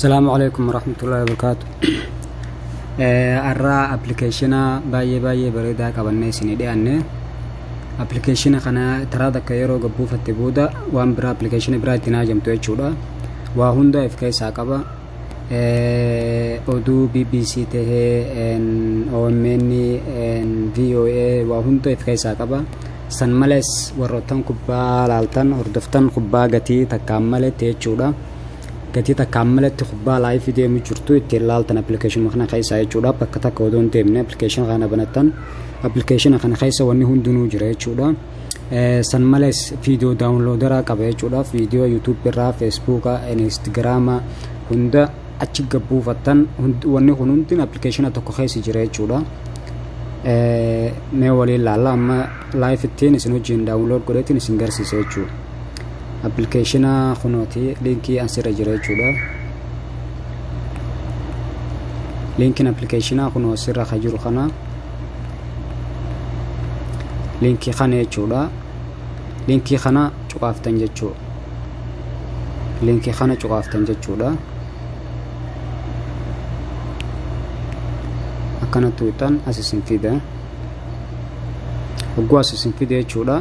Asalaamu alaikum warahmatullahi wabarakaatu. Har'a appilikeeshina baay'ee baay'ee bareedaa qabannee isinii dhiyaanne. Appilikeeshina kana taraa takka yeroo gabbuufatte booda waan biraa appilikeeshina biraa ittiin haajamtu jechuudha. Waa hundaa if keessaa qaba. Oduu BBC tahee OMN VOA waa hunda if keessaa qaba. San malees warroottan kubbaa laaltan hordoftan kubbaa gatii takkaan maletti jechuudha. gatii takka ammalatti kubbaa laayifii deemu jirtu ittiin laaltan appilikeeshinuma kana keessaa jechuudha bakka takka odoo hin deemne appilikeeshina kana banattan appilikeeshina kana keessa wanni hundinuu jira jechuudha san malees viidiyoo daawunloodaraa qaba jechuudha viidiyoo yuutuubii irraa feesbuuka inistigraama hunda achi gabbuufattan wanni kun hundin appilikeeshina tokko keessa jira jechuudha mee waliin laalla amma laayif ittiin isin wajjin daawunlood godheetiin isin garsiisa jechuudha appilikeeshina kunooti liinkii asirra jira jechuudha liinkiin appilikeeshinaa kunoo asirra ka jiru kana liinkii kana jechuudha liinkii kana cuqaaftan jechuu liinkii kana cuqaaftan jechuudha akkana tuuxan as isin fida hogguu as isin fide jechuudha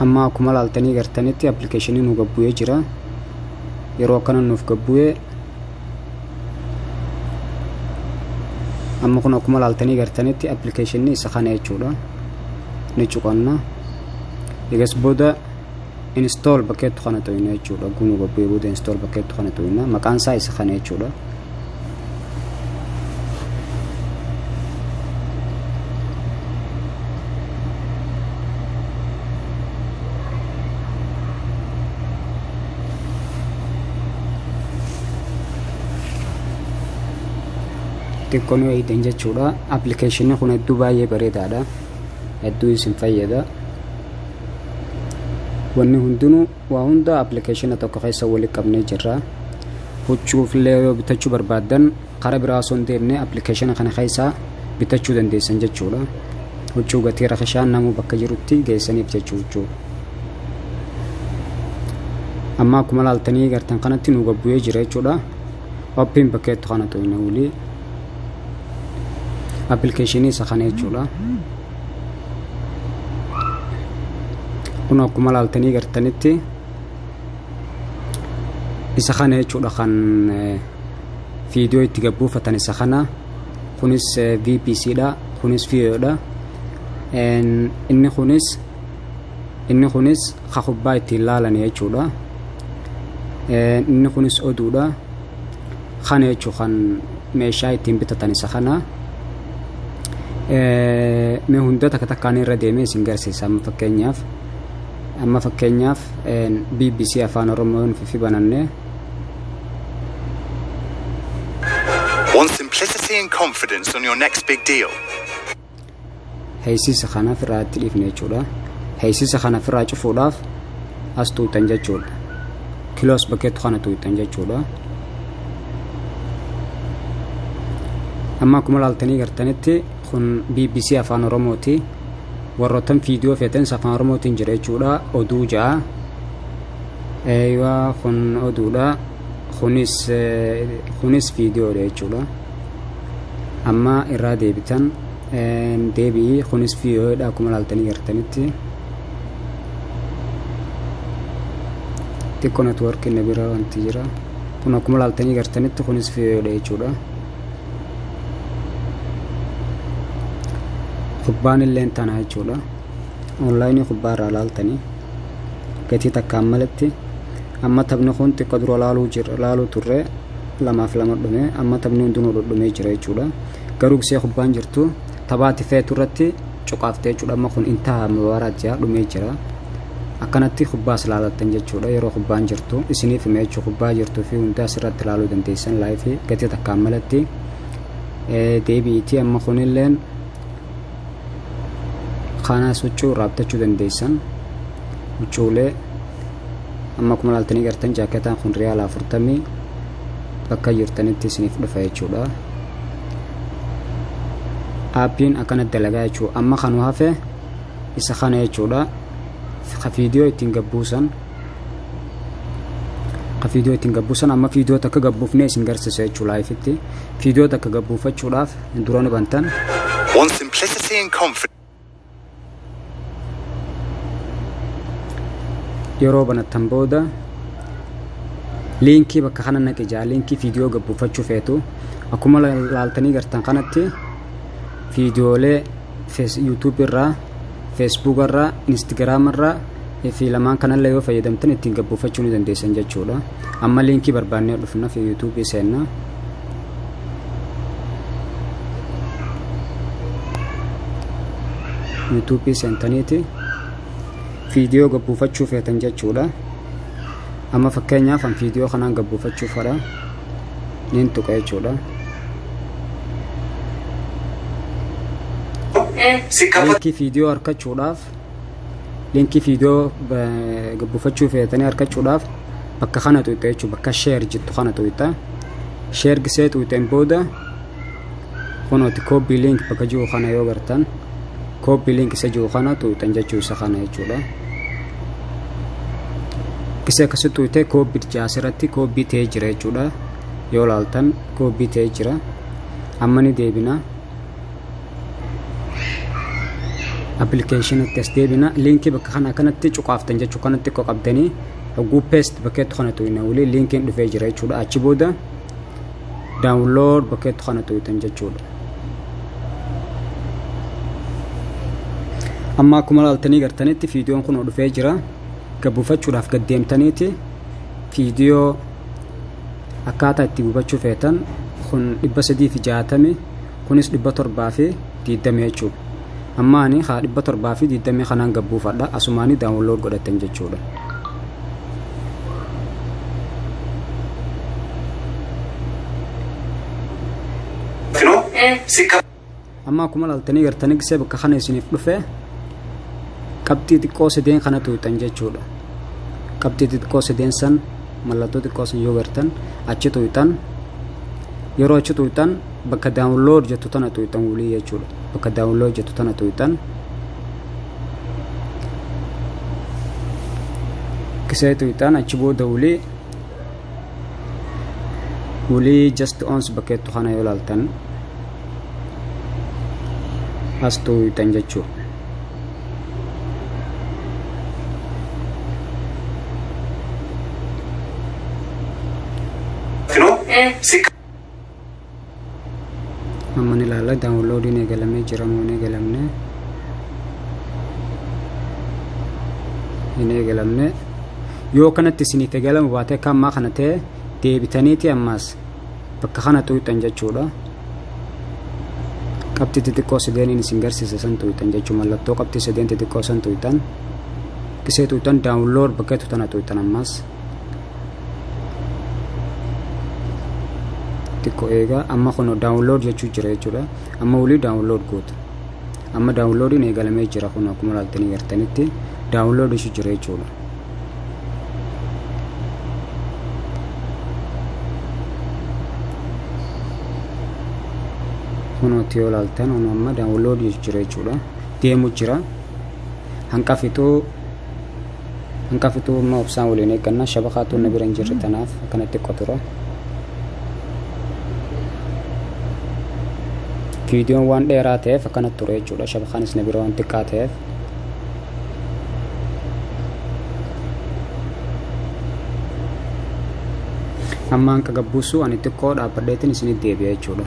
amma akkuma laaltanii gartanitti appilikeeshinii nu gabbu'ee jira yeroo akkana nuuf gabbu'ee amma kun akkuma laaltanii gartanitti appilikeeshinii isa kana jechuudha ni cuqanna egas booda install bakkeettu kana tuqna jechuudha gunu gabbee booda install bakkeettu kana tuqna maqaan isaa isa kana jechuudha xiqqoo nu eegdan jechuudha appilikeeshinii kun hedduu baay'ee bareedaadha hedduu isin fayyada wanni hundinuu waa hunda appilikeeshina tokko keessa wali qabnee jirra huccuufillee yoo bitachuu barbaaddan karaa biraa osoo hin deemne appilikeeshina kana keessaa bitachuu dandeessan jechuudha huccuu gatii rakishaan namuu bakka jirutti geessaniif jechuu huccuu amma akkuma laaltanii gartan kanatti nu gabbu'ee jira jechuudha oppiin bakkeettu kana tuyne wulii appilikeeshinii isa kana jechuudha kun akkuma laaltanii gartanitti isa kana jechuudha kan viidiyoo itti gabbuufatan isa kana kunis vpc dha kunis viidiyoo dha inni kunis inni kunis ka kubbaa ittiin laalan jechuudha inni kunis oduudha kana jechuu kan meeshaa ittiin bitatan isa kana mee hunda takka takkaan irra deemee isin garsiisa amma fakkeenyaaf amma fakkeenyaaf bbc afaan oromoon fifi banannee Want simplicity and confidence on your next big deal? heysisa kana ofirraa itti dhiifne jechuudha heysisa kana ofirraa cufuudhaaf as tuutan jechuudha kiloos bakkeettu kana tuutan jechuudha amma akkuma laaltanii gartanitti kun bbc afaan oromooti warroottan viidiyoo feetanis afaan oromootiin jira jechuudha oduu ja'a eeywa kun oduudha kunis kunis viidiyoodha jechuudha amma irraa deebitan Deebi'i kunis VOA dha akkuma ilaaltanii gartanitti. Xiqqoo networkiin na bira wanti jira. Kun akkuma ilaaltanii gartanitti kunis VOA dha jechuudha. Kubbaan illee tana jechuudha. Onlaayinii kubbaa irraa ilaaltanii gatii takkaan malatti amma taphni kun xiqqoo dura ilaaluu turre lamaaf lama dhume amma taphni hundinuu dhudhumee jira jechuudha. garuu gisee kubbaan jirtu taphaati feetu irratti cuqaaftee jechuudha amma kun intaha mubaaraa jira dhumee jira akkanatti kubbaas laalattan jechuudha yeroo kubbaan jirtu isiniif hima jechuu kubbaa jirtuu fi hundaa asirratti laaluu dandeessan laayifii gatii takkaan malatti deebi'iitii amma kunilleen kaanaas huccuu irraa bitachuu dandeessan huccuulee amma kuma laaltanii gartan jaaketaan kun riyaala afurtamii bakka jirtanitti isiniif dhufa jechuudha aappiin akkana dalagaa jechuudha amma kanu hafe isa kana jechuudha ka viidiyoo ittiin gabbuusan ka viidiyoo ittiin gabbuusan amma viidiyoo takka gabbuufne isin garsiisa jechuudha laayifitti viidiyoo takka gabbuufachuudhaaf durani bantan One simplicity and confidence. yeroo banattan booda liinkii bakka kana naqi jaa liinkii viidiyoo gabbuuffachuu feetu akkuma laaltanii gartan kanatti viidiyoolee yuutuubii irraa feesbuuka irraa inistigraama irraa fi lamaan kanallee yoo fayyadamtan ittiin gabbuuffachuu ni dandeessan jechuudha amma liinkii barbaannee dhufna fi yuutuubii seenna yuutuubii seentaniiti viidiyoo gabbuufachuu feetan jechuudha amma fakkeenyaaf an viidiyoo kanaan gabbuufachuu fedha niin tuqa jechuudha liinkii viidiyoo arkachuudhaaf linkii fiidiyoo gabbifachuu feetanii argachuudhaaf bakka kana tuqxee jechuudha bakka sheer jettu kana tuqxee sheer gisee tuqxeen booda kunooti koopii link bakka jiru kana yoo gartan koopii link isa jiru kana tuqxeen jechuu isa kana jechuudha. Gisee akkasii tuqxee koopii jaasirratti koopii ta'ee jira jechuudha yoo laaltan koopii ta'ee jira amma ni deebina. appilikeeshinatti as deebina liinkii bakka kana kanatti cuqaaftan jechuu kanatti xiqqoo qabdanii hogguu peest bakkeetti kana tuyna waliin liinkiin dhufee jira jechuudha achi booda daawunlood bakkeetti kana tuytan jechuudha. Amma akkuma laaltanii gartanitti viidiyoon kun dhufee jira gabbuufachuudhaaf gad deemtaniiti viidiyoo akkaataa itti gubachuu feetan kun dhibba sadii fi jaatami kunis dhibba torbaa fi diiddamii jechuudha amma ani haa dhibba torbaa fi diiddamii kanaan gabbuufadha asumaanii daawunlood godhattan jechuudha amma akkuma laaltanii gartanii gisee bakka kana isiniif dhufe qabxii xiqqoo sadeen kana tuuxan jechuudha qabxii xiqqoo sadeen san mallattoo xiqqoo sun yoo gartan achi tuqxan yeroo achi tuqxan bakka daawunlood jettu tana tuqxan wulii jechuudha bakka daawunlood jettu tana tuqxan kisee tuqxan achi booda wulii wulii just ons bakka jettu kana yoo laaltan as tuqxan jechuudha amma ni ilaalla daawunloodiin eegalamee jira moo hin eegalamne hin eegalamne yoo kanatti isiniif eegalama baate akka ammaa kana ta'e deebitaniiti ammaas bakka kana tuqxan jechuudha qabxii xixiqqoo sadeeniin isin garsiise san tuqxan jechuu mallattoo qabxii sadeen xixiqqoo san tuqxan isee tuqxan daawunlood bakka jettu tana tuqxan ammas xiqqoo eegaa amma kun daawunlood jechuu jira jechuudha amma wulii daawunlood gootu amma daawunloodiin eegalamee jira kun akkuma laaltanii gartanitti daawunlood jechuu jira jechuudha kunuutti yoo ilaaltan homa amma daawunlood jira jechuudha deemu jira hanqa fixuu hanqa fixuu amma obsaan waliin eeggannaa shabakaatu na bira hin jirre tanaaf akkana xiqqoo tura viidiyoon waan dheeraa ta'eef akkana ture jechuudha shabakaanis na bira waan xiqqaa ta'eef amma hanqa gabbuusu ani xiqqoo dhaabbadheetiin isinitti deebi'a jechuudha.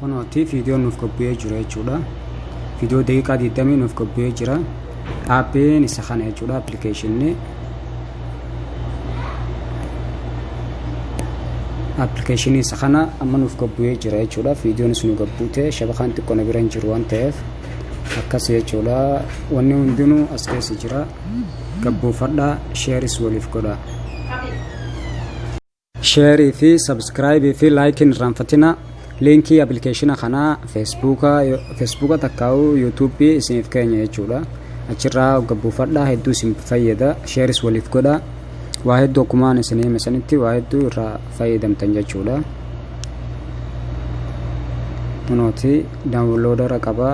Kunooti viidiyoo nuuf qophi'ee jira jechuudha. Viidiyoo daqiiqaa 20 nuuf qophi'ee jira. Aappiin isa kana jechuudha appilikeeshinni. Appilikeeshinni isa kana amma nuuf qophi'ee jira jechuudha. Viidiyoon isin qophi'ee shabakaan xiqqoo na bira hin jiru waan ta'eef akkas jechuudha. Wanni hundinuu as keessa jira. Gabbuufadhaa sheeris waliif godhaa. Share fi subscribe fi like hin irraanfatina. Linkii application kanaa Facebooka Facebooka takkaa'u YouTube isiniif keenya jechuudha. Achirraa hogga buufadhaa hedduu isin fayyada. Shares waliif godha. Waa hedduu akkumaan isin hime sanitti waa hedduu irraa fayyadamtan jechuudha. Kunooti daawunloodara qaba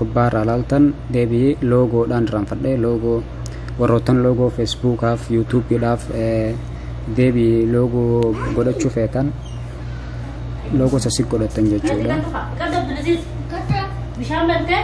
kubbaa irraa laaltan deebi'ee loogoodhaan irraanfadhee loogoo warroottan loogoo Facebookaaf, YouTubeedhaaf deebii loogoo godhachuu feetan loogoo sassi godhattan jechuudha. Bishaan bantee?